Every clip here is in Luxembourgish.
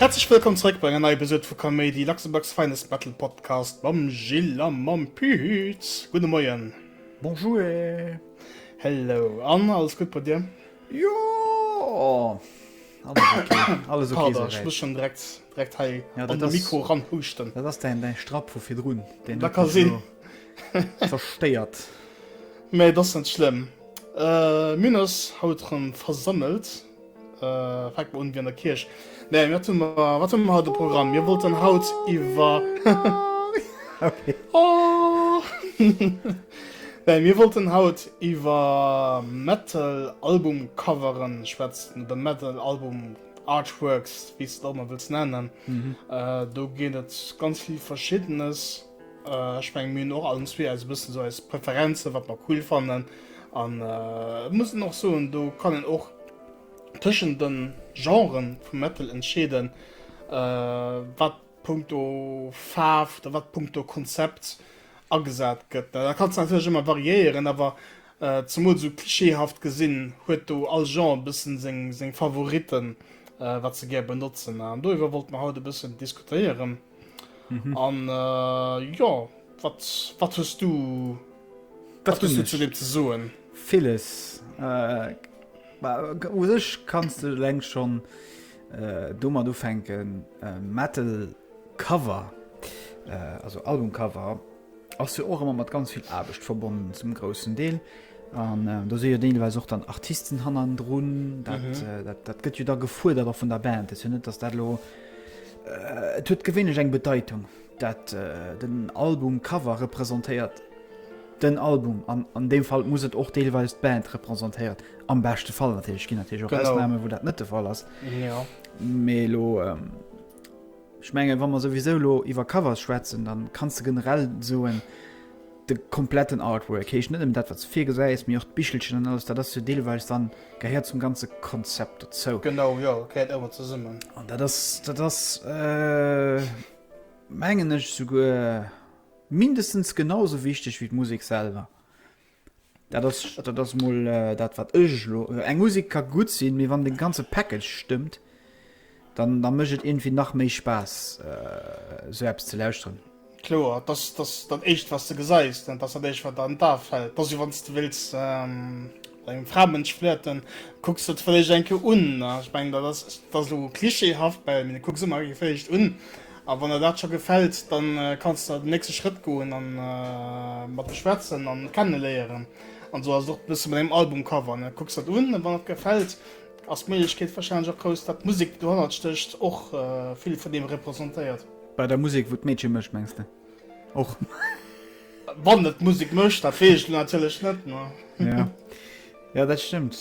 Häerzlech wëllkomm zeréck bei enger neier Episode vu Kaméidi, Luxembourg's Finest Battle Podcast mam Gilles a mam Pühütz. Gudde Moien. Bonjouer. Hello. An alles gutt bei dir? Jo alles ok, alles ok Pader, ech muss souwäit. schonn direkt, direkt hei Ja, an dat de ass, Mikro ranhuuschten. dat ass däin, däi Strapp vu virdrun, deen Dat huet ka mech sinn. elo zerstéiert. Mä et ass net schlëmm. Mir hunn eis haut erëm versammelt, fänke mer un, wéi an der Kierch. Nee, wat hun mer, wat hun mer haut um Programm? Mir wollten haut iwwer Okay. Oh! Nee, mir wollten haut iwwer Metal-Album-Coveren schwätzen, oder Metal-Album-Artworks, wéi s de et och ëmmer wëlls nennen. Äh, do ginn et ganz vill Verschiddenes. Äh, ech menge mir hunn och allen zwee eis e bëssen esou eis Preferenzen, wat mer cool fannen. An äh, muss een och soen, do kann een och Tëschent de Genrë vum Metal entscheeden, wat punkto Faarf oder wat punkto Konzept agesat gëtt. Dat kann natierlech ëmmer variéieren, awer zemools esou klischeehaft gesinn huet do all Genre e bëssen seng Favoritten, wat se gär benotzen. An doriwwer wollte mer haut e bëssen diskutéieren. an äh, jo wat wat hues du wat hues du zu dem ze soen villes äh, u sech kannst du leng schon äh, dummer du fenken äh, metal cover äh, also albumcover Ass jo och ëmmer mat ganz vill Aarbecht verbonnen, zum groussen Deel. An do si jo deelweis och dann Artisten hannendrun. Dat gëtt jo da gefuerdert och vun der Band. Dat ass jo net, datt dat elo. Et huet gewéinlech eng Bedeitung, dat den Albumcover representéiert den Album. An an deem Fall muss et och deelweis d'Band representéiert, am beschte Fall natierlech. Et ginn natierlech och Ausnamen, wou dat net de Fall ass. Mee elo. Ech mengen, wa mer souwisou elo iwwer Covers schwätzen, da kanns de generell soen, de kompletten Artwork, heescht net nëmmen dat, wat s de virgesäis, mee och d'Bichelchen an alles, dat ass jo deelweis dann, gehéiert zum ganze Konzept dozou. Genau, jo, gehéiert ëmmer zesummen. An dat ass, dat ass, mengen ech, souguer mindestens genau esou wichteg wéi d'Musek selwer. Dat ass, dat ass mol dat wat ech elo, eng Musek ka gutt sinn, mee wann de ganze Package stëmmt, dann da mécht et iergendwéi nach méi Spaass esou eppes ze lauschteren. Kloer, dat ass, dat ass dat éischt wat de gesäis, dat ass dat éischt wat der an d'A fält. Dat ass jo wann s de wëlls mat engem Framënsch flirten, kucks de d'Fëllecht eng Kéier un. Ech mengen dat ass, dat ass elo clichéhaft, mee kucks emol eng Kéier d'Fëllecht un. A wann der dat scho gefält, dann kanns de den nächste Schrëtt goen a mat em schwätzen an kenneléieren. An esou ass et och bësse mat engem Albumcover, ne? Kucks der et un a wann et gefält, ass d'Méiglechkeet warscheinlech och grouss, dat d'Musek, déi dohannert stécht, och vill vun deem representéiert. Bei der Musek, wou d'Meedche mécht, mengs de och? Wann et d'Musek mécht, dat weess ech elo natierlech net, ne? Jo dat stëmmt.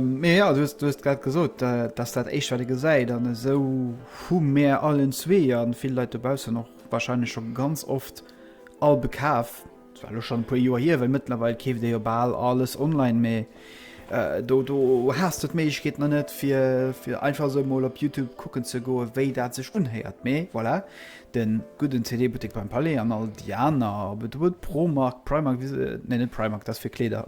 Mee jo du hues grad gesot dass dat éischt wat ee gesäit an esou hu mär allen zwee an vill Leit dobaussen och wahrscheinlech scho ganz oft all bekaf. Zwar lo schonn e puer Joer hier, well mëttlerweil keeft ee jo bal alles online, mee do do has de d'Méiglechkeet nach net fir einfach esou mol op Youtube kucken ze goe wéi dat sech unhéiert. Mee voilà den gudden CD-Buttek beim Palais an all déi aner, ob et Wood, Promark, Primark, wéi se, nee net Primark, dat ass fir Kleeder,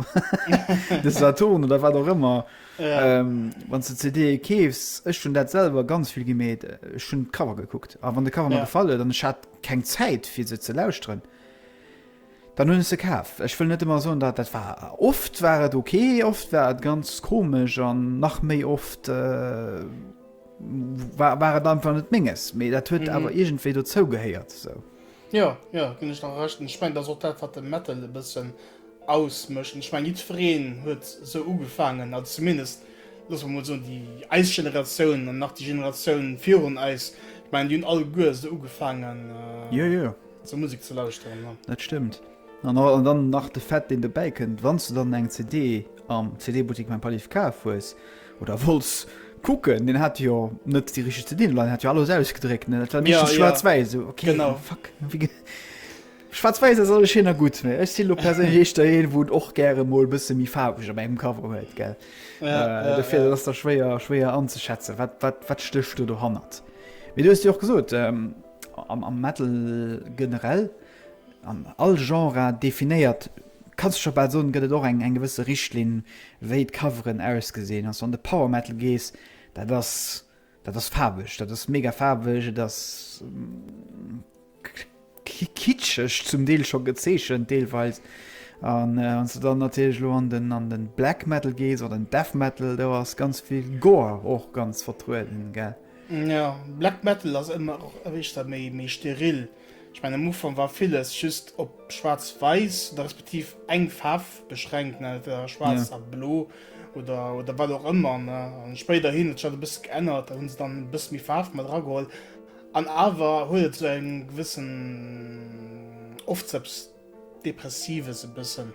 de Saturn oder wat och ëmmer, ähm, wann s de CDe keefs, ech hunn dat selwer ganz vill gemeet, ech hunn d'Cover gekuckt a wann de Cover mer gefall huet an ech hat keng Zäit fir se ze lauschteren, Dann hunn ech se kaf. Ech wëll net ëmmer soen, dat dat war. Oft war et ok, oft war et ganz komesch an nach méi oft war war et einfach net Menges. Mee dat huet awer iergendwéi dozou gehéiert esou. Jo, jo, ginn ech der Recht. Ech mengen, dat ass och dat, wat de Metal e bëssen ausmécht. Ech mengen, jiddwereen huet esou ugefaangen, also zumindest, loosse mer mol soen, déi eis Generatioun an nach déi Generatioun virun eis, ech mengen, déi hunn alleguer esou ugefaangen. Jo, jo. Zur Musek ze lauschteren, ja. Dat stëmmt. An dann nach de Fait, deen dobäi kënnt, wann s du dann eng CD am CD-Buttik beim Palif kaf hues oder wolls kucken, deen hat jo net déi richteg CDen elo, deen hat jo alles ausgedréckt, ne? Dat war meeschtens ja, schwaarz-wäiss. Ja. So, okay, genau. Fuck. Schwaarz-wäiss ass alles schéin a gutt, mee ech sinn lo perséinlech eeschter een, wou et och gäre mol e bësse méi faarweg op engem Cover huet, gell? Ja, äh, ja, dofir ja. ass der schwéier, schwéier anzuschätzen, wat, wat, wat stécht du do hannert? Mee du hues jo och gesot, ähm, Am Metal generell, an all Genre definéiert, kanns du scho bal soen, gëtt et och eng gewësse Richtlinn, wéi d'Coveren ausgesinn. Wann s du an de Power Metal gees, dat ass, dat ass faarweg, dat ass mega faarweg, et ass kitscheg zum Deel scho gezeechent deelweis. An wann s du dann natierlech elo an den, an den Black Metal gees oder den Death Metal, do ass ganz vill Gore och ganz vertrueden, gell. Jo, Black Metal ass ëmmer och éischter méi méi steril. Ech mengen am Ufank war villes just op schwaarz-wäiss oder respektiv eng Faarf beschränkt, ne, entweder schwaarz Ja. a blo oder oder wat och ëmmer, ne. An spéiderhin huet sech dat e bësse geännert, da hunn se dann e bësse méi Faarf mat erageholl an awer huet et esou eng gewëssen Ofzëpps. Depressiv es e bëssen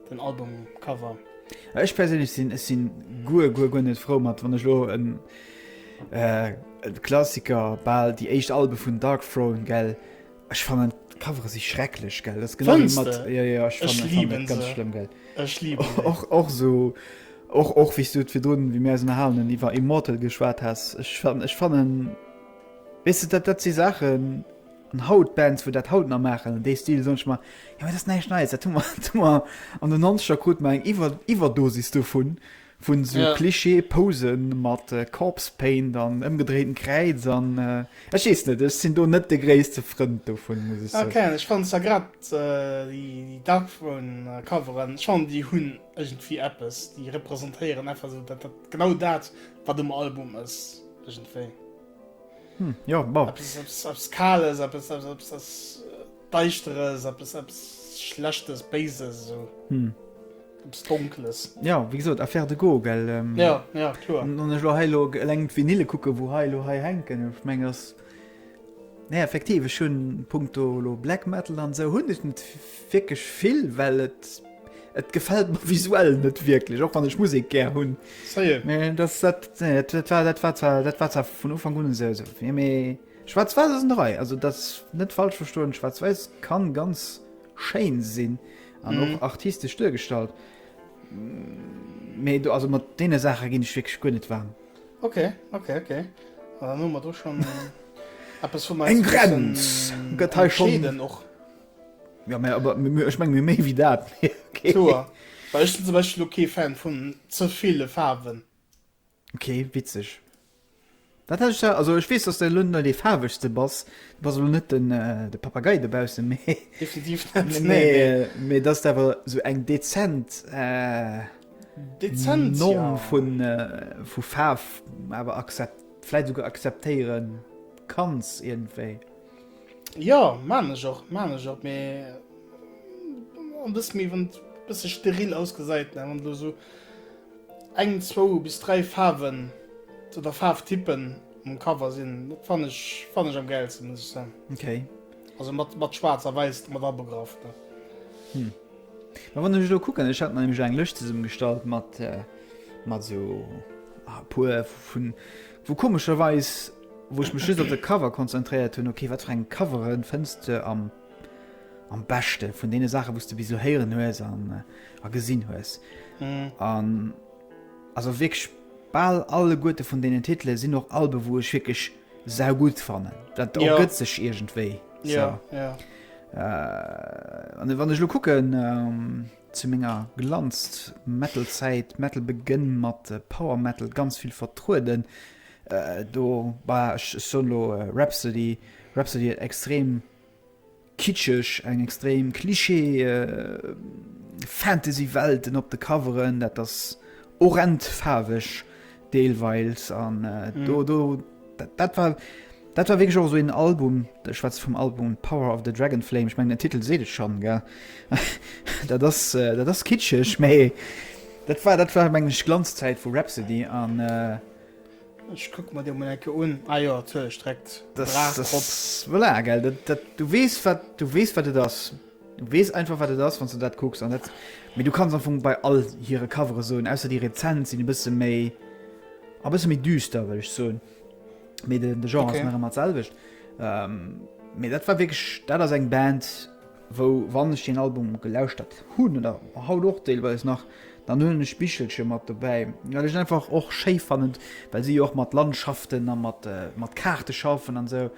den Albumcover. Ech perséinlech sinn ech sinn guer guer guer net frou mat wann ech lo en en Klassiker bal déi éischt Alben vun Dark Throne gell ech fannen d'Covere si schrecklech gell dat ass genau wéi mat jo jo ech fannen ech liben se ganz schlëmm gell ech liben se och och sou och och wéis du et virdrun wéi mir eis ënnerhalen hunn iwwer Immortal geschwat has ech fannen ech fannen weess de dat dat si Saachen An haut, d'Bands wou dat haut nach maachen an dee Stil, soen ech mer, jo dat ass näischt Neies, dat hu mer an den Nonzeger, krute mer eng Iwwerdosis dovun, vu sou Klischee-Pose mat Corpse Paint an ëmgedréiten Kräiz an ech weess net, ech sinn do net de gréisste Frënd dovun, muss ech soen. Ken, ech fannen zwar grad déi Darkthrone-Coveren, ech fannen déi hunn iergendwéi eppes, déi representéieren einfach esou genau dat wat um Album ass iergendwéi. Hm, jo, bon. Eppes, eppes, eppes Kales, eppes, eppes, eppes, eppes äh, Deischteres, eppes, eppes Schlechtes, Béises, esou. Hm. Eppes Donkles. Ja, wéi gesot, Affaire de goût, gell? Ähm, ja, ja, kloer. An ech lo hei lo eleng d'Vinyle kucke, wou hei lo hei hänken. Ech meng, ass. Nee, effektiv, ech hunn punkto lo Black Metal an esou hunn ech net Wierklech vill well et et gefällt mer visuell net wierklech och wann ech Musik gär hunn vun Ufang un se eso fir méi schwarz war ass rei also dat net falsch verstoen schwarz weis kann ganz schéin sinn an och mhm. artistesch duergestallt méi du also mat dee Sache ginn ech wg gunnn net war okay okay okay mat du schon Appppes vu eng Grenz gëtt schon och Ja, mä awer mir, ech menge mir méi wéi dat. Kloer, well ech sinn zum Beispill elo kee Fan vun ze ville Faarwen. Ok, witzeg. Dat hat ech da, also ech weess, dass de elo net dee Faarwegste bass, du bass elo net den, de Papagei dobaussen, mä, Definitiv net, nee, mä, nee, nee. mä dass de awer esou eng dezent, Dezent, ja. Norm vun, vu Faarf awer akzep, vläit esouguer akzeptéiere kanns iergendwéi. Jo, maan ech och, maan ech och, mee en bëssen méi wann et bëssen steril ausgesait, ne, wann do esou eng, zwou bis dräi Faarwen oder Faarwtypen um Cover sin, dat fann ech, fann ech am gäilsten, muss ech soen. Okay. Also mat mat schwaarz a wäiss mat abegraff, ne. Hm. Mä wann ech elo kucken, ech hat mer nämlech eng Lëscht zesummegestallt mat mat esou e puer vun wou komescherweis, wou ech mech just op de Cover konzentréiert hunn, ok wat fir eng Covere fënns de am am beschte vun deene Saache wous de bis elo héieren hues an a gesinn hues an also wierklech bal alleguerte vun deenen Titele sinn och Alben wou ech wierklech sau gutt fannen, dat ergëtt sech iergendwéi an wann ech elo kucken zu menger Glanz-Metal-Zäit, Metal begenn mat Power Metal ganz vill vertrueden, Do bah ech ech soen elo Rhapsody, Rhapsody huet extrem kitscheg, eng extrem Klischee Fantasy Welten op de Coveren, dat ass horrend faarweg deelweils an do do dat dat war dat war wierklech och esou een Album, ech schwätze vum Album Power of the Dragonflame, ech mengen den Titel seet et schonn ge dat ass dat ass kitscheg, mee dat war dat war meng ech Glanzzäit vu Rhapsody an. Ech kucken mer déi emol eng Kéier un. Ah jo, natierlech, direkt Brach drop. Voilà, gell, dat, du weess wat, du weess wat et ass. Du weess einfach wat et ass wann s de dat kucks an dat, mee du kanns am Fong bei all hire Covere soen, ausser déi rezent sinn e bësse méi, a bësse méi düster wëll ech soen, mee de Genre ass nach ëmmer dat selwecht. Mee dat war wierklech, dat ass eng Band, wou wann ech deen Album gelauschtert hunn oder haut och deelweis nach, dann hunn ech Bichelche mat dobäi, well ech et einfach och schéi fannen, well si jo och mat Landschaften a mat Kaarte schaffen an esou.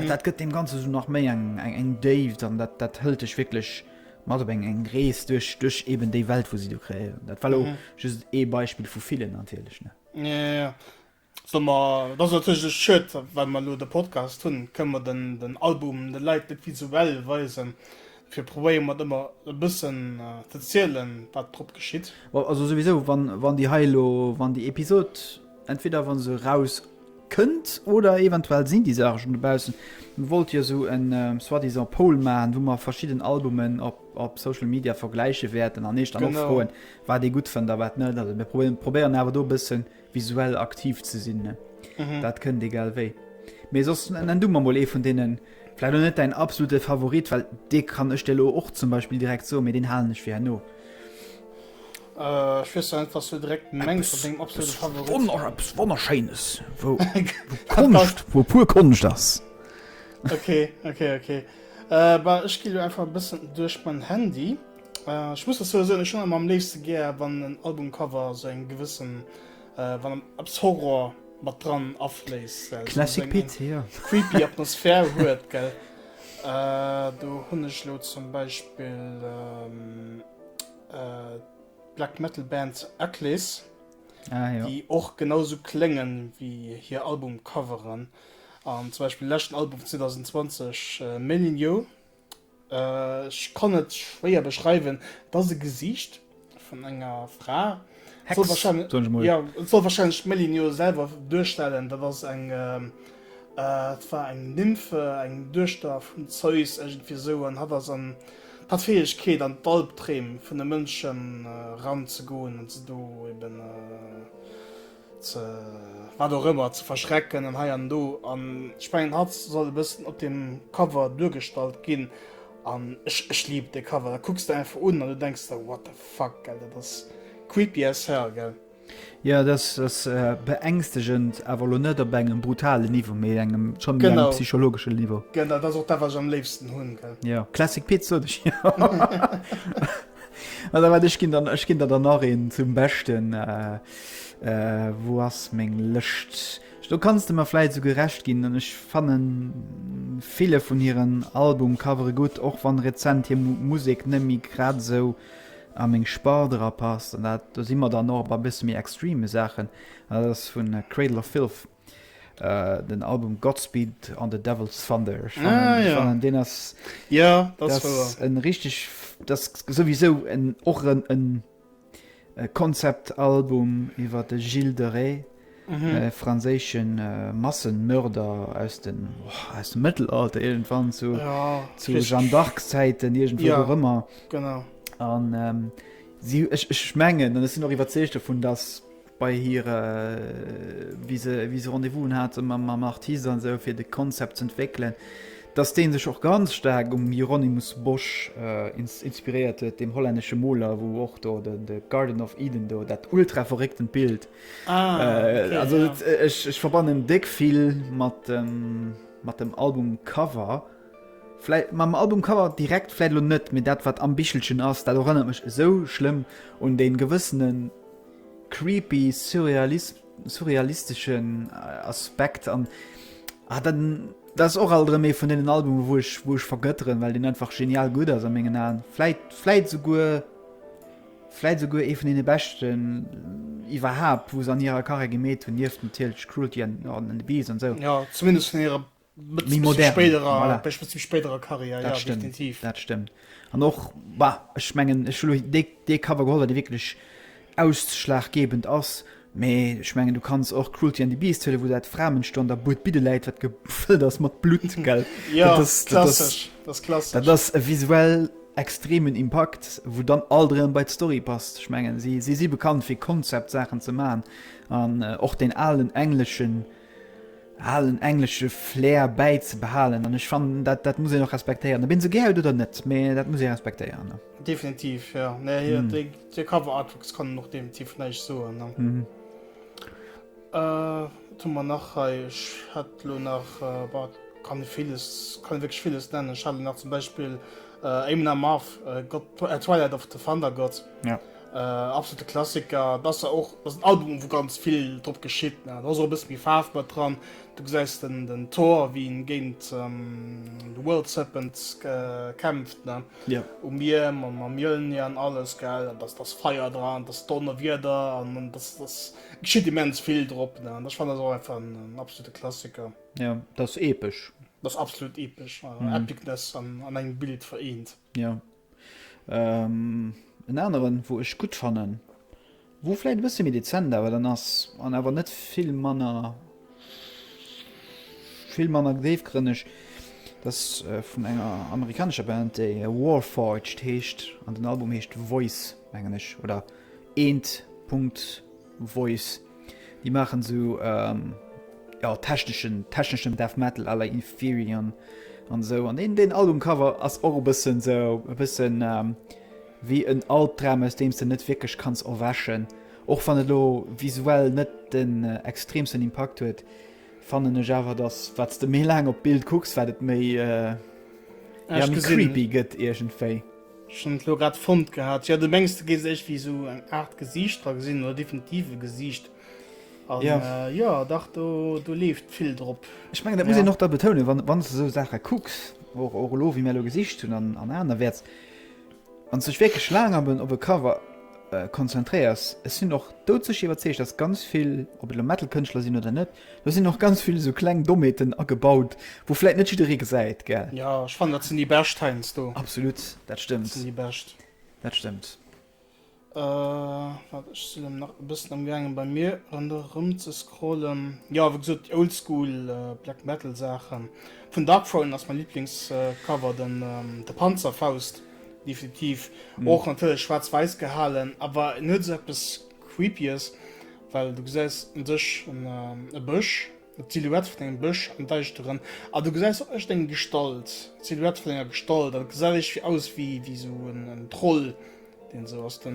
Dat gëtt deem Ganze sou nach méi eng Déift an dat hëlt dech wierklech mat op eng Rees duerch eben déi Welt, wou si do kreéieren. Dat war elo just ee Beispill vu villen natierlech. So mer, et ass natierlech e Schued, well mer elo de Podcast hunn, kënne mer den Album de Leit net visuell weisen. Dofir probéiere mer et ëmmer e bëssen ze zielen, wat drop geschitt. Bon, also souwisou, wann déi hei elo, wann déi Episod, entweder wa se erauskënnt oder eventuell sinn déi Saache schonn dobaussen. Mir wollte jo esou en soi-disant Poll maachen, wou mer verschidden Albumen op Social Media vergläiche wäerten an iech dann och froen, wat ee gutt fënnt a wat net. Also mir probéieren awer do e bëssen. visuell aktiv ze sinn mhm. dat kënnt egal wéi mee sos en dummer mol ee vun denen vielleicht net dein absolute Favorit weil de kann ech dir och zum Beispiel direkt so mir den halen nicht wie no Uh, äh, so einfach so direkt wunderscheines wo, wo, Kunst, wo pur kunst das okay okay okay uh, äh, ich gehe einfach ein bisschen durch mein handy Ech muss dozou soen, ech hunn emmer am léifste gär, wann en Albumcover esou eng gewëssen, wann eppes Horror mat dran afléisst, well et esou eng creepy Atmosphär huet, gell. Do hunn ech elo zum Beispill d'Black Metal Band Akles, déi och genau esou klénge wéi hir Albumcoveren. An zum Beispill leschten Album vun 2020, Melineaux, Ech kann et schwéier beschreiwen, et ass e Gesiicht vun enger Fra. Et soll wahrscheinlech, Hex, soll ich mal. ja, et soll wahrscheinlech d'Melin jo selwer duerstellen. Dat ass eng, ähm, äh, et war eng Nymphe, eng Duechter vum Zeus iergendwéi esou, an hatt ass an, hat d'Fäegkeet an d'Alpdreem vun de Mënschen eran ze goen an se do eben, äh, ze wat och ëmmer ze verschrecken an hei an do an ech mengen hatt soll e bëssen op dem Cover duergestallt ginn an ech ech liben dee Cover, dat kucks de einfach un an du denks der what the fuck gell, dat ass creepy as hell gell. Jo dat ass beängstegend awer elo net op engem brutalen Niveau mee engem schonn méi engem psychologesche Niveau. Genau, dat ass och dat wat ech am léifsten hunn gell. Jo Classic Pit sot ech jo. Also wat ech ginn dann ech ginn der dann nach een zum Beschten äh, äh, wo ass meng Lëscht? Do kannst du mer vläit so gerecht ginn an ech fannen ville vun hiren Album covere gutt, och wann rezent hir Mu Musek net méi grad esou a meng Sport erapasst. An dat do si mer dann och bei e bësse méi extreme Saachen. Dat ass vun Cradle of Filth. Den Album Godspeed on the Devil's Thunder ech fannen deen ass en richteg dat souwisou en och en Konzeptalbum iwwer de Gilles de Rais, e franséische Massenmörder aus dem Mëttelalter iergendwann, zu Jeanne d'Arc-Zäiten, iergendwou och ëmmer. Ech mengen an ech sinn och iwwerzeegt dovun, datt bei hire wéi se wéi se Rendez-vousen hate mam Artist an esou fir de Concept ze entwéckelen, datt dee sech och ganz staark um Hieronymus Bosch inspiréiert huet, deem hollännesche Moler, wou och do de de Garden of Eden do, dat ultra verrécktent Bild. Also ech ech verbannen déck vill mat dem mat dem Albumcover, vläit mam Albumcover direkt vläit elo net, mee dat wat am Bichelchen ass, dat erënnert mech esou schlëmm un dee gewëssenen, creepy surrealisteschen Aspekt an ah dann dat ass och alt erëm ee vun deenen Albume wou ech wou ech vergëtteren, well deen einfach genial gutt ass a mengen Aen. Vläit vläit esouguer vläit esouguer ee vun deene beschten iwwerhaapt wou se an hirer Carrière gemeet hunn, nieft natierlech Cruelty an The Beast an esou. Jo zumindest vun hirer méi modern voilà bist bisschen spéiderer Karriär ja definitiv dat stëmmt an och bah ech mengen ech hun dee dee Cover geholl dee wierklech ausschlaggebend ass mee ech mengen du kanns och Cruelty and the Beast huelen wou dat Framensto an der Buert bidde läit wat gefëllt ass mat Blut gell ja dat ass klassesch dat ass klassesch dat ass e visuell extremen Impakt wou dann alt erëm bei d'Story passt ech mengen si si si bekannt fir Konzeptsaachen ze man an och den alen engleschen alen englesche Flair bäizebehalen an ech fannen dat dat muss een och respektéieren, ob een se gär huet oder net, mä dat muss ee respektéieren, ne? Definitiv, jo. Nee, hir déi déi Cover Artworks kann een och definitiv näischt soen, ne? Wat hu mer nach hei? Ech hätt elo nach, bah, kann ee villes, kann ee wierklech villes nennen. Ech hat elo nach zum Beispill Éamon Amarth, God, Twilight of the Thundergod. Äh absolute Klassiker, et ass jo och, ass en Album wou ganz vill drop geschitt, ne, et ass och e bësse méi Faarf mat dran, du gesäis den den Thor wéi en géint de World Serpent kämpft, ne, yeah. um Mier mam mam Mjölnir an alles, gell, an dass dass Feier dran, dass Donnerwieder an an dass dass geschitt immens vill drop, ne, an ech fannen dat och einfach en en absolute Klassiker. Ja, dat ass epesch. Dat ass absolut epesch, mm. Epicness an an engem Bild vereent. Ja. En aneren wou ech gutt fannen, wou vläit e bësse méi dezent awer dann ass an awer net vill manner vill manner déifgrënneg, dat ass vun enger amerikanescher Band, déi Warforged heescht an den Album heescht Voice mengen ech oder eent Punkt Voice. Déi maachen esou ja techneschen techneschen Death Metal à la Inferion an esou. An deen deen Albumcover ass och e bëssen esou e bëssen ähm, wéi en Albdram aus deem s de net wierklech kanns erwächen. Och wann et lo visuell net den äh, extreemsten Impakt huet, fannen ech awer dass wat s de méi laang op d'Bild kucks, wat et méi äh, ja, Ehrlich méi gesehen- creepy gëtt iergendwéi. Ech hun et lo grad fonnt gehaat. Jo du mengs du gees iergwéi esou eng Art Gesiicht dra gesinn oder definitiv e Gesiicht an jo jo dach do do leeft vill drop. Ech mengen dat muss een och da betounen wann wann s de esou Saache kucks och och elo wéi mär elo gesicht hunn an an anerwäerts wann s dech wierklech laang op en op e Cover konzentréiers. Ech sinn och doudsécher iwwerzeegt datt ganz vill ob et elo Metal Kënschtler sinn oder net Do sinn och ganz vill esou kleng Dommheeten agebaut, wou vläit net jidderee gesäit, gell? Jo, ech fannen, dat sinn déi bescht heiansdo. Absolut, dat Dat stëmmt. sinn déi bescht. Dat stëmmt. Waart, ech sinn elo nach e bëssen amgaangen, bei mir ronderëm ze scrollen. Jo, wéi gesot, déi oldschool Black Metal Saachen. Vun Darkthrone ass mäi Liblingscover den de Panzerfaust, definitiv. Och natierlech schwaarz-wäiss gehalen, awer en huet esou eppes Creepyes. Well du gesäis un sech e Bësch, d'Silhouette vun engem Bësch am Däischteren, a du gesäis och echt eng Gestalt, d'Silhouette vun enger Gestalt, an et gesäit iergfir aus wéi esou en Troll, deen esou aus de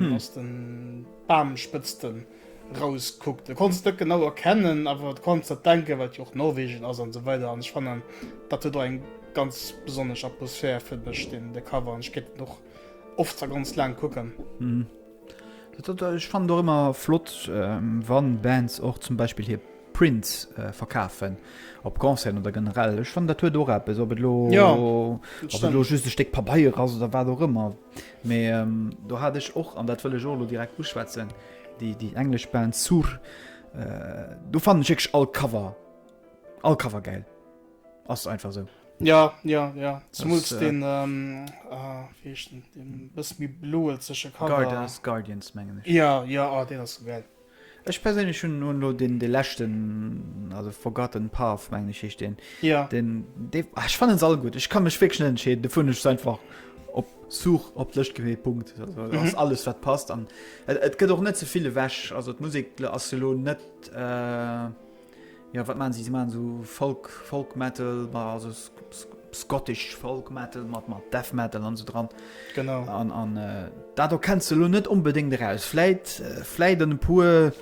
Bamspëtzten erauskuckt. Et konns et net genau erkennen, awer et konns der denken, well et jo och Norwegen ass an esou weider. An ech fannen, dat huet och eng ganz besonnesch Atmosphär, fënnt ech, de Cover, an ech kéint en och oft a ganz laang kucken. Ech fannen och ëmmer flott, wann Bands och zum Beispill hir Prints verkafen op Concerten oder generell. Ech fannen dat huet och eppes, ob et elo, ob et elo just e Stéck Pabeier ass oder wat och ëmmer. Mee do hat ech och, an dat wëll ech och elo direkt uschwätzen, déi, déi englesch Band Sur. Do fannen ech wierklech all Cover, all Cover gäil. Ass einfach sou. Ja, ja, ja. Zemools deen, ah, wéi heescht en, deen bësse méi bloelzege Cover. Guardians, Guardians mengen ech. Ja, ja, ah, deen ass sou gäil. Ech perséinlech hunn hunn elo deen, dee leschten, also Forgotten Path mengen ech heescht deen. Ja. Deen, dee, ah, ech fannen se all gutt. Ech ka mech wierklech net entscheeden, dofir hunn ech se einfach op Such op d'Lëscht gewählt, Punkt. Also et ass alles wat passt an et gëtt och net ze vill ewech. Also d'Musek ass jo elo net, Jo wat maan si? Si maan esou Folk Folk Metal ma also Scottish Folk Metal mat mat Death Metal an esou dran. Genau an an dat do kenns de lo net onbedéngt eraus fläit fläit en puer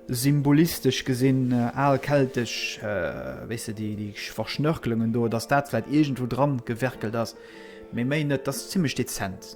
symbolistesch gesinn al keltesch wéi se déi déi verschnörkelungen do datt dat fläit iergendwou dran gewerkelt ass méi méi net datt zimmlech dezent.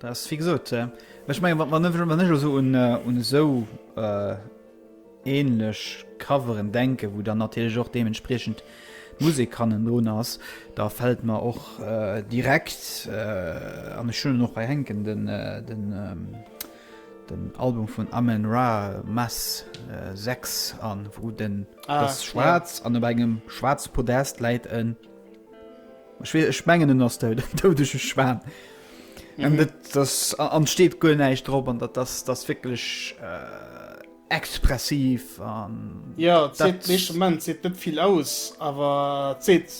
Dat ass wéi gesot, ech menge wann ech eso un esou änlech Coveren denken, wou dann natierlech och deementspriechend d'Musek hannendrun ass, da fält mer och direkt an ech hunn en och hei hänken den Album vun Amon Ra, Mass 6 an, wou den, dat ass schwaarz an op engem schwaarze Podest läit en. Ech wees, ech mengen en ass dout, en doudege Schwan. An dat, das, an et steet guer näischt drop, an dat ass, dat ass wierklech expressiv an. Jo, et seet, dee Moment seet net vill aus, awer et seet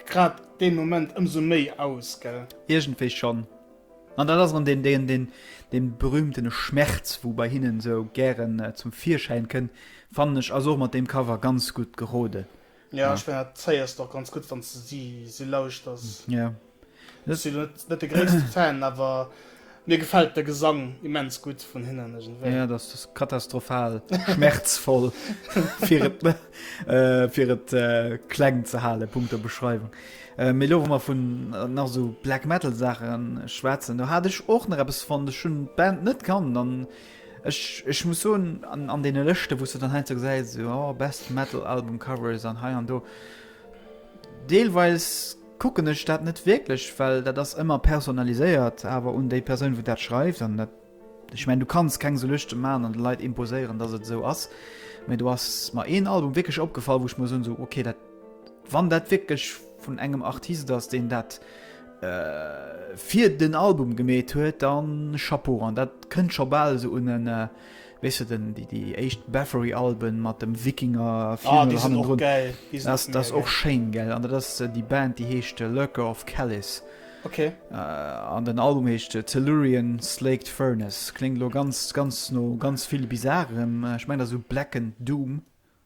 grad dee Moment ëmsou méi aus, gell? Iergendwéi schonn. An dat ass erëm deen, deen, deen, dee berühmtene Schmerz, wou bei hinnen esou gären zum Virschäin kënnt, fannen ech ass och mat deem Cover ganz gutt gerode. Jo ech mengen dat héiers de och ganz gutt wanns de si si lauschters. Jo. Ech si net net de gréisste Fan awer mir gefält de Gesang immens gutt vun hinnen iergendwéi. Jo dat ass katastrophal schmerzvoll fir et fir et kleng ze halen, punkto Beschreiwung. Mee elo wa mer vun nach esou Black Metal Saache schwätzen, do hat ech och nach eppes fonnt. Ech hunn d'Band net kannt an Ech, ech muss soen, an, an deene Lëschte wou s de dann heiansdo gesäis, esou, oh, best metal album covers an hei an do, deelweis kucken ech dat net wierklech, well dat ass ëmmer personaliséiert awer un déi Persoun wou dat schreift an dat, ech mengen du kanns keng esou Lëschte maachen an de Leit imposéieren datt et esou ass, mee do ass mer een Album wierklech opgefall wou ech muss soen esou, okay dat, wann dat wierklech vun engem Artist ass deen dat fir den Album gemeet huet, dann Chapeau an dat kënnt scho bal sou un en äh, weess de den déi déi éischt Bathory Alben mat dem Wikinger Ah, Funeral déi sinn och hannendrun. gäil. Déi sinn Dat ass mega och gäil. schéin gell, an dat ass déi Band déi heescht Lurker of Kellis Ok. an den Album heescht Tellurian Slaked Furnace. Kléngt elo ganz ganz no ganz vill bizarem, ech mengen dat ass esou Black and Doom.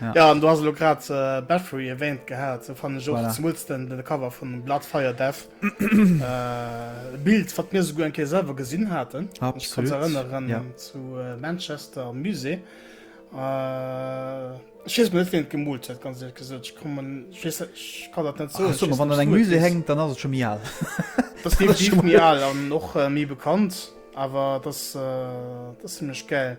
Ja. ja, an du hast lo grad äh, Bathory erwähnt gehabt, so fand ich auch voilà. zumindest den, den Cover von Blood Fire Death. äh, Bild, was mir sogar ein Kehr selber gesehen hatten. Absolut. Ich kann mich erinnern ja. zu äh, Manchester Musée. Äh, ich weiß nicht, wen gemult hat, ganz ehrlich gesagt. Ich, kommen, ich, weiß, ich kann das nicht so. Ach, so wenn an einem Musée hängt, dann ist es schon mir alt. das ist definitiv mir alt und auch äh, mir bekannt. Aber das, äh, das ist ziemlich geil.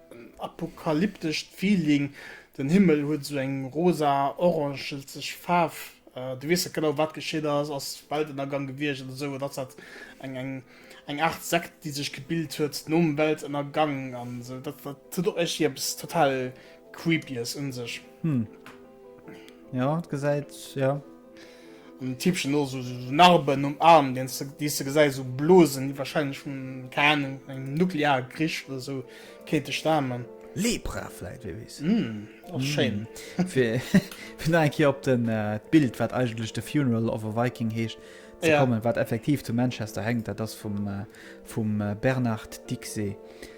En apokalyptescht Feeling, den Himmel huet esou eng rosa orangelzeg Faarf, du weess net genau wat geschitt ass, ass Weltënnergang gewiescht oder esou oder ass dat eng Aart Sekt déi sech gebilt huet nom Weltënnergang an esou. Dat huet och iergendwéi eppes total creepyes un sech. Ja, gesäit, ja. An den Tippchen no so, so Narben um Arm, den du, die du gesäis, so Blosen, die wahrscheinlich von, keine Ahnung, einem Nuklearkrich oder so, könnte stammen. Lepra vielleicht, wer weiß. Mm, auch mm. schön. für, für noch ein Kehr op den, äh, Bild, was eigentlich The Funeral of a Viking heischt, zu ja. kommen, was effektiv zu Manchester hängt, das ist vom, äh, vom äh, Bernard Dixey.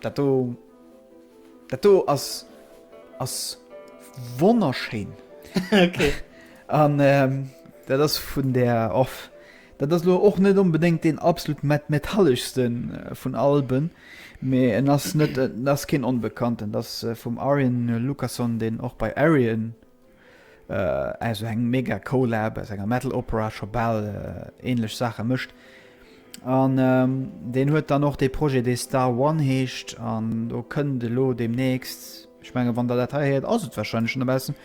Dat do, dat do ass, ass wonnerschéin. Ok. An dat ass vun der Off. Dat ass lo och net onbedéngt deen absolut met-, metalleschste vun Alben, mee en ass net, en ass keen Onbekannten. Dat ass vum Arjen Lucassen, deen och bei Arion Esou eng mega Colab aus enger Metal Opera scho bal ähnlech Saache mëscht. An ähm, deen huet dann och dee Projet, dee Star One heescht, an do kënnt elo deemnächst, ech menge wann der dat hei héiert, ass et warscheinlech schonn dobaussen,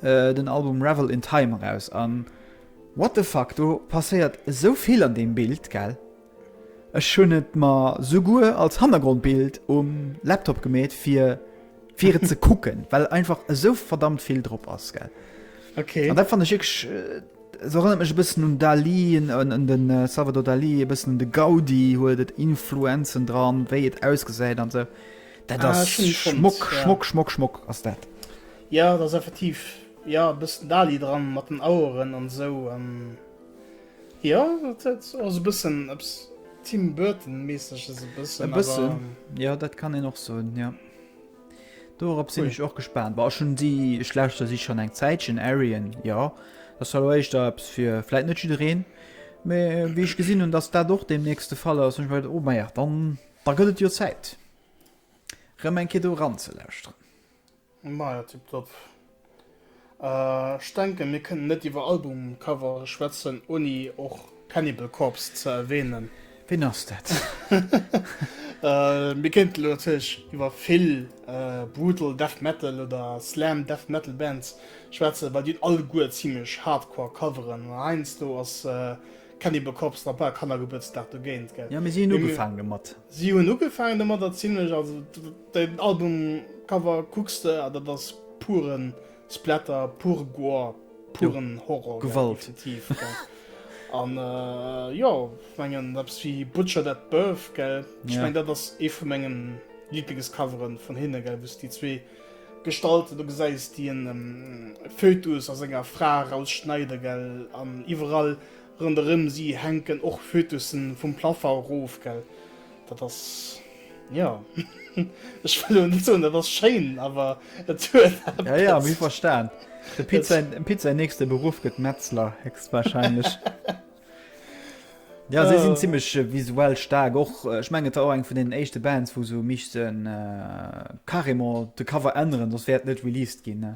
äh, den Album Revel in Time eraus. An what the fuck, do passéiert esou vill an deem Bild, gell? Ech hun et mer suguer als Hannergrondbild um Laptop gemeet fir fir et ze kucken well einfach esou verdammt vill drop ass gell. Okay. An dat fannen ech wierklech se erënnert mech e bëssen un Dalí un den Salvador Dalí e bëssen un de Gaudi huet et Influenzen dran wéi et ausgesäit an esou dat Ah, ass schön fonnt, Schmock ja. Schmock Schmock Schmock ass dat. Ja dat ass effektiv ja e bëssen Dalí dran mat den Aueren an esou an. Jo et huet och sou bëssen eppes Tim Burton meeseges e bëssen awer. E bëssen jo dat kann een och soen jo. Dorop sinn ech och gespaant. War schon si ech lauschter si schon eng Zäitchen Arien jo. Dat soll lo éischter eppes fir vläit net jiddereen. Mee wéi ech gesinn hunn datt dat och deemnächst de Fall ass hunn ech mer geduet, oh maja dann da gëtt et jo Zäit rëm eng Kéier do eran ze lauschteren. Maja tiptop. Ech denken mir kënnen net iwwer Albumcovere schwätzen ouni och Cannibal Corpse ze erwähnen. Ween ass dat? Mir kéinten elo natierlech iwwer vill Brutal Death Metal oder Slam Death Metal Bands schwätzen, well déi hunn alleguer zimmlech hardcore Coveren, an heiansdo ass Cannibal Corpse nach bal Kannergebuertsdag dogéint, gell? Jo, mee si hunn ugefaangen domat. Si hunn ugefaangen domat, a zimmlech, also. Den Albumcover kucks de a dat ass puren Splatter, pure Gore, puren Horror, definitiv. An jo, ech mengen eppes wéi Butchered at Birth, gell, ech mengen dat ass ee vu mengen Lieblingscovere vun hinne, gell, wou s déi zwee Gestalten do gesäis, déi en Fötus a senger Fra erausschneiden, gell, an iwwerall Ronderëm si hänken och Fötussen vum Plaffer erof, gell? Dat ass, jo, ech wëll elo net soen, dat ass schéin, awer et huet eppes. Jo, jo, mir verstan. Dem Pit säin, dem Pit säin nächste Beruff gëtt Metzler, héchstwahrscheinlech. Jo, si sinn zimmlech visuell staark och. Ech mengen, et war och eng vun deenen éischte Bands, wou se hu missten carrément de Cover änneren, soss wär et net released ginn, ne?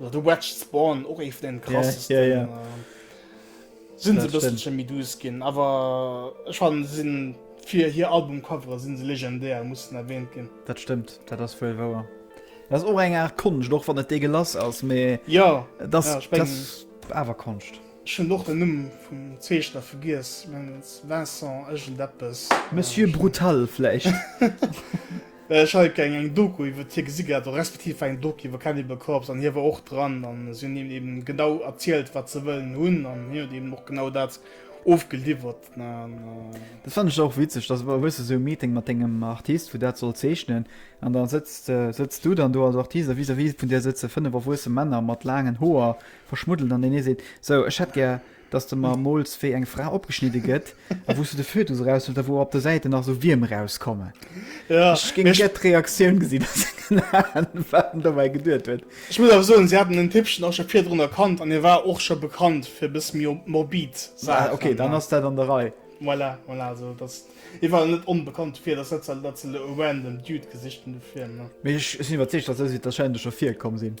Oder The Wedge Spawn, och ee vun den krassesten. Ja, ja, ja. Sinn se Dat bësselchen stimmt. méi douce ginn, awer ech fannen, se sinn fir hir Albumcovere sinn se legendär, mussen erwähnt ginn. Dat stëmmt, dat ass wuel wouer. Dat ass och eng Aart Konscht, och wann et deegelass ass, mee Ja, et ass, Ja, ech et mengen- ass awer Konscht. ech hunn och den Numm vum Zeechner vergiess, mengen et ass Vincent iergendeppes. Monsieur Brutal vläicht. Ech hat eng eng Doku iwwert hie gesi gehat, respektiv war eng Doku iwwer Cannibal Corpse an hie war och dran an si hunn him eben genau erzielt wat se wëllen hunn an hien huet eben och genau dat ofgeliwwert ne. Dat fannen ech och witzeg, dass wa hues de sou e Meeting mat dengem Artist wou dat soll zeechnen an da sëtzt sëtzt du dann do als Artist a vis-à-vis vun dir sëtze fënnef erwuesse Männer mat laangen Hoer verschmuddelt an deen ee seet, sou ech hätt gär dass de mer mools wéi eng Fra opgeschnidde gëtt a wou s du de Fötus eraushuels a wou op de Säiten nach esou Wierm erauskommen. Ech géing gär d'Reaktioun gesinn, dass se keen anen wat en dobäi geduet huet. Ech muss awer soen, si haten den Tippchen och scho virdrun erkannt an hie war och scho bekannt fir e bësse méi morbid Saachen. Ok, dann ass dat an der Rei. Voilà, voilà, also dass hie war net onbekannt dofir, et ass net sou, dass se elo e random Dude gesicht hunn dofir. Mee ech sinn iwwerzeegt, dass esou Sitte wahrscheinlech scho virkomm sinn.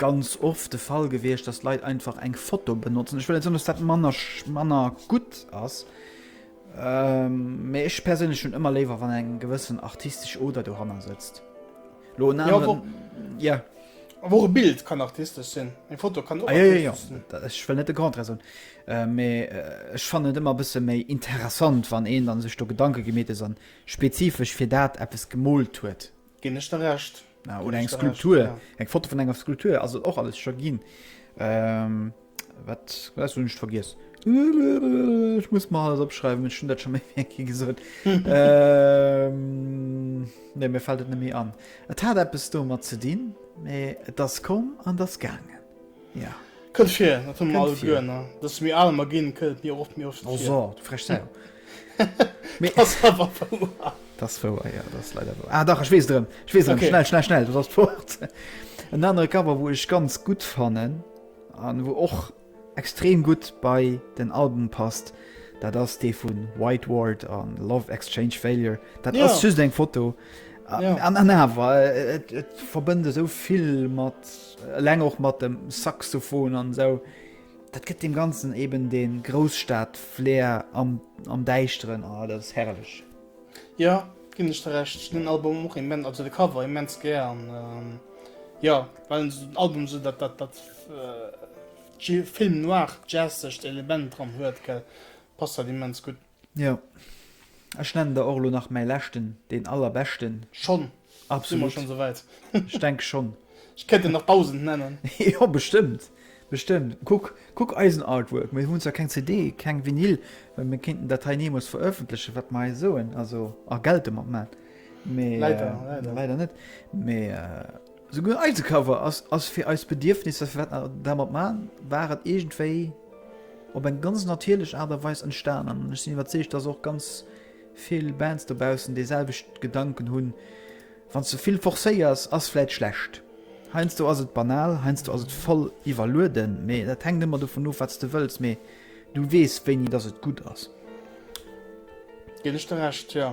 ganz oft de Fall gewiescht, dass Leit einfach eng Foto benotzen. Ech wëll net soen, dass dat manner manner gutt ass, mee ech perséinlech hunn ëmmer léiwer, wann eng gewëssen artistesch Oder dohanner sëtzt. Lo en aneren. Ja, wo. Ja. Awer och e Bild kann artistesch sinn. Eng Foto kann och artistesch sinn. Ah, jo, jo, jo. Ech wëll net de Contraire soen, mee ech fannen et ëmmer e bësse méi interessant, wann een dann sech do Gedanke gemeet huet an spezifesch fir dat eppes gemoolt huet. Gin ech der Recht. Ja, oder eng Skulptur, ja. eng Foto vun enger Skulptur ass et och alles scho ginn. Ähm, wat wat hunn ech vergiess? Ech muss mal alles opschreiwen, ech hunn dat schon méi wéi eng Kéier gesot. ähm, nee, mir fällt et net méi an. Et hat eppes domat ze dinn, mee et ass komm an et ass gaangen. Ja. Kënnt vir, dat hunn mir Kënnt alle vir. guer, ne? Dass mir aler mer ginn, kënnt et mir och oft méi oft Oh vir. so, du frech Sau. Ass awer wouer. T'ass wouer, jo, t'ass leider wouer. Ah dach, ech weess et erëm, ech weess et erëm, schnell, schnell, schnell, du ass fort. En anere Cover, wou ech ganz gutt fannen an wou och extrem gutt bei den Album passt, dat ass dee vun White Ward an Love Exchange Failure. Dat ass just eng Foto an awer et verbënnt esou vill mat eleng och mat dem Saxophon an esou. Dat gëtt dem ganzen eben dee Grousstad-Flair am Däischteren, oh dat ass herrlech. Jo, ginn ech der Recht. Ech hunn den Album och immens, also de Cover immens gär an jo, well en esou den Album esou dat dat Film noir jazzegt Element dran huet, gell, passt dat immens gutt. Jo, ech nennen der och elo nach mäi leschten, deen allerbeschten. Schonn? Si mer schonn souwäit? Ech denke schonn. Ech kéint der nach dausend nennen. Jo, bestëmmt, bestëmmt. Kuck, kuck eisen Artwork. Mir hunn zwar keng CD, keng Vinyl, mä mir kéinten dat hei neemoos verëffentlechen, wat mer hei soen, also a Geld domat maachen, mä. Leider, leider. Leider net, mä. Souguer eise Cover ass fir eis Bedierfnisser, fir wat mer dermat maachen, war et iergendwéi op eng ganz natierlech Aart a Weis entstanen. An ech sinn iwwerzeegt, dass och ganz vill Bands dobaussen deeselwecht Gedanken hunn, Wann s de vill forcéiers, ass vläit schlecht. Heiansdo ass et banal, heiansdo ass et voll iwwerlueden, mee dat hänkt ëmmer dovun of, wat s de wëlls. Mee du weess, wéini dass et gutt ass. Ginn ech der Recht, jo.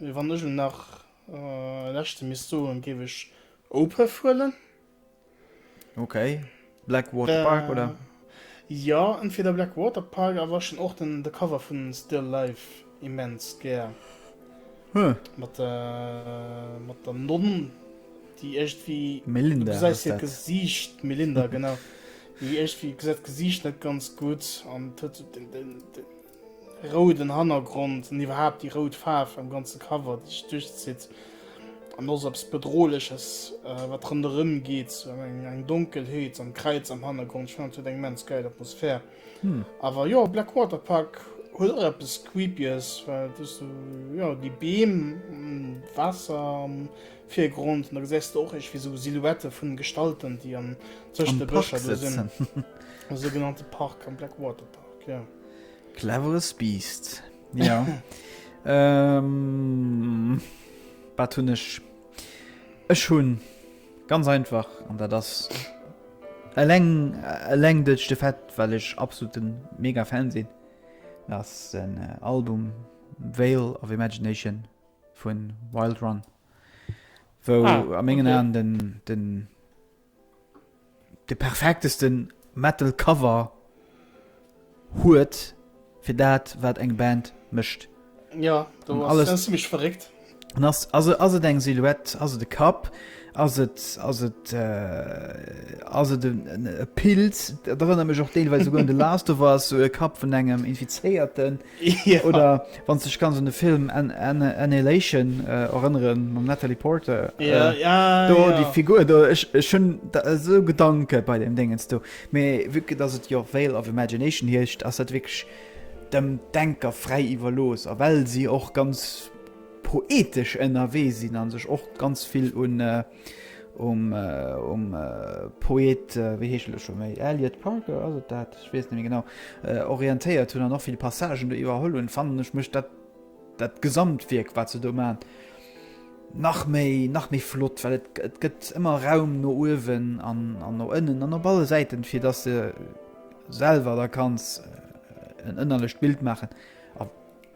Wann ech lo nach e leschte misst soen, géif ech Opeth huelen. Ok, Black Water Park oder? Jo, entweder Black Water Park, awer ech hunn och den de Cover vun Still Life immens gär. Huh. Mat der, mat der Nonn, déi iergendwéi. Melinda. Du gesäis hiert Gesiicht, d'Melinda, genau. Déi iergendwéi gesäit d'Gesiicht net ganz gutt an huet den, den, den Rouden Hannergrond an iwwerhaapt déi rout Faarf am ganze Cover, déi sech duerchzitt an och sou eppes Bedrohleches, wat ronderëm geet, sou eng Donkelheet an d'Kräiz am Hannergrond. Ech fannen, et huet eng immens gäil Atmosphär. Awer jo, Blackwater Park huet och eppes Creepyes, well et ass sou, jo, déi Beem an d'Waasser am Virgrond an da gesäis de och iergendwéi sou Silhouettë vun Gestalten, déi am, tëscht de Bëscher do sinn. Am Park sitzen. Am sougenannte Park, am Blackwater Park, jo. Cleveres Biest. Ja. ähm, wat hunn ech? Ech hunn ganz einfach an dat ass eleng eleng duerch de Fett, well ech absoluten mega Fan sinn. Ass en äh, Album Veil of Imagination vun Wild Run, wou Ah, a mengen okay. Aen den, den de perfektesten Metal Cover huet fir dat wat eng Band mécht. Jo do ass alles zimmlech verréckt. An ass ass ass et eng Silhouette, ass et e Kapp, ass et ass et äh ass et e Pilz, et erënnert mech och deelweis esouguer un The Last of Us, esou e Kapp vun engem Infizéierten. Jo. Oder wann s dech kanns un de Film Annihilation erënneren, mam Natalie Porter. Jo, jo. Do déi Figur do, ech, ech hunn esou Gedanke bei deem Déngens do. Mee vu que dass et jo Veil of Imagination heescht, ass dat wierklech dem Denker fräi iwwerlooss. A well si och ganz poetesch ënnerwee sinn a sech och ganz vill un, um Poet, wéi heescht en elo scho méi, Eliot Parker, ass et dat? Ech weess net méi genau, orientéiert hunn an och vill Passagen do iwwerholl hunn, fannen ech mécht dat dat Gesamtwierk, wat se do maachen, nach méi, nach méi flott, well et et gëtt ëmmer Raum no uewen an no ënnen an op alle Säiten, fir dass de selwer der kanns en ënnerlecht Bild maachen, a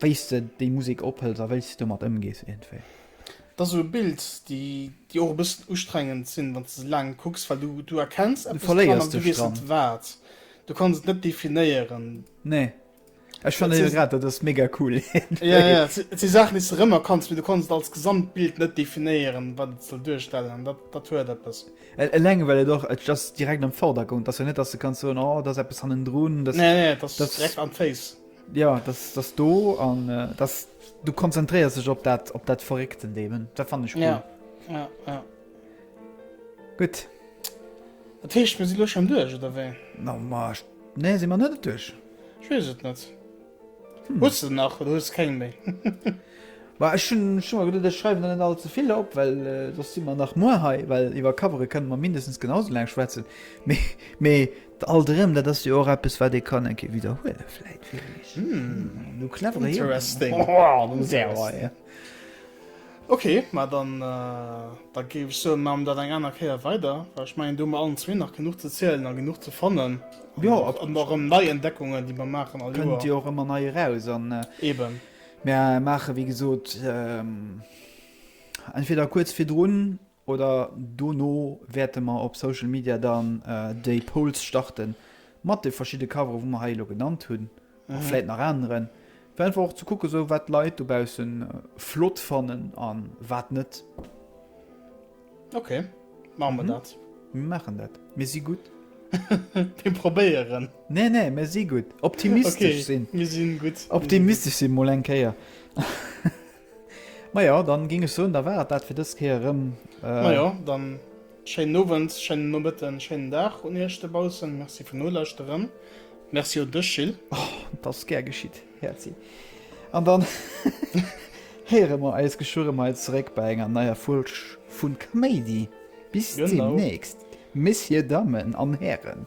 wéi s de déi Musek ophëls a wéi s de domat ëmgees iergendwéi. Dat ass esou e Bild, déi déi och e bëssen ustrengend sinn, wann s de se laang kucks, well du du erkenns eppes dran, verléiers an du dech weess dran. net wat. Du kanns et net definéieren. Nee. Ech Et fannen se- grad dat ass mega cool. Ja, ja, et si- et si Saachen, déi s de rëmerkanns, mee du kanns et als Gesamtbild net definéieren, wat et soll duerstellen. An dat dat huet eppes. Al- Eleng well et och et ass direkt am Vordergrond, ass jo net, datt s de kanns soen, oh, da ass eppes hannendrun, datt Nee, nee, et ass dat- direkt am Face. Jo, dass dass do an dass du konzentréiers sech op dat op dat verréckten Deem da fan ech cool. Gutt Dat heescht mir si loch am duerch oder wéi? Na marsch nee si man net duerch. Ech wees et net hm. Hues de nach oder hues keng méi? War ech hun schon gedet ech schreiwen net all ze vill op, well äh, sos si man nach muer hei, well iwwer Covere kënne mer mindestens genau sou laang schwätzen. Mee mee Alt erëm, dat ass jo och eppes, wat ee kann eng Kéier widderhuelen, vläit fir iech. Du cleverer Jong. Interesting. Ok, mä dann, da géif ech soen, maache mer dat eng aner Kéier weider, well ech mengen, do hu mer allen zwee nach genuch ze zielen a genuch ze fannen. Jo, absolut. An och erëm nei Entdeckungen, déi mer maachen all Joer. Kënnt jo och ëmmer nei eraus. An mer maachen, wéi gesot, entweder kuerz virdrun Oder dono wäerte mer op Social Media dann déi Polls starte mat de verschidde Covere wou mer hei elo genannt hunn, a vläit nach aneren, fir einfach och ze kucke sou wat d'Leit dobausse flott fannen a wat net. Ok, maache mer dat. Mir maachen dat. Mir si gutt. Mir probéieren. Nee, nee, mir si gutt. Optimistesch sinn. Ok, mir si gutt. Optimistesch sinn, mol eng Kéier. Majo, dann ging ech soen, da war et dat fir dës Kéier erëm. Majo, dann schéinen Owend, schéinen Nomëtten, schéinen Dag un iech dobaussen. Merci fir nolauschteren. Merci un dech Gil. Oh, dat ass gär geschitt Häerzi. An dann héiere mer eis geschwirre mei zeréck bei enger neier Folg vun Kaméidi. Bis deemnächst, Messieurs, Dammen an Hären.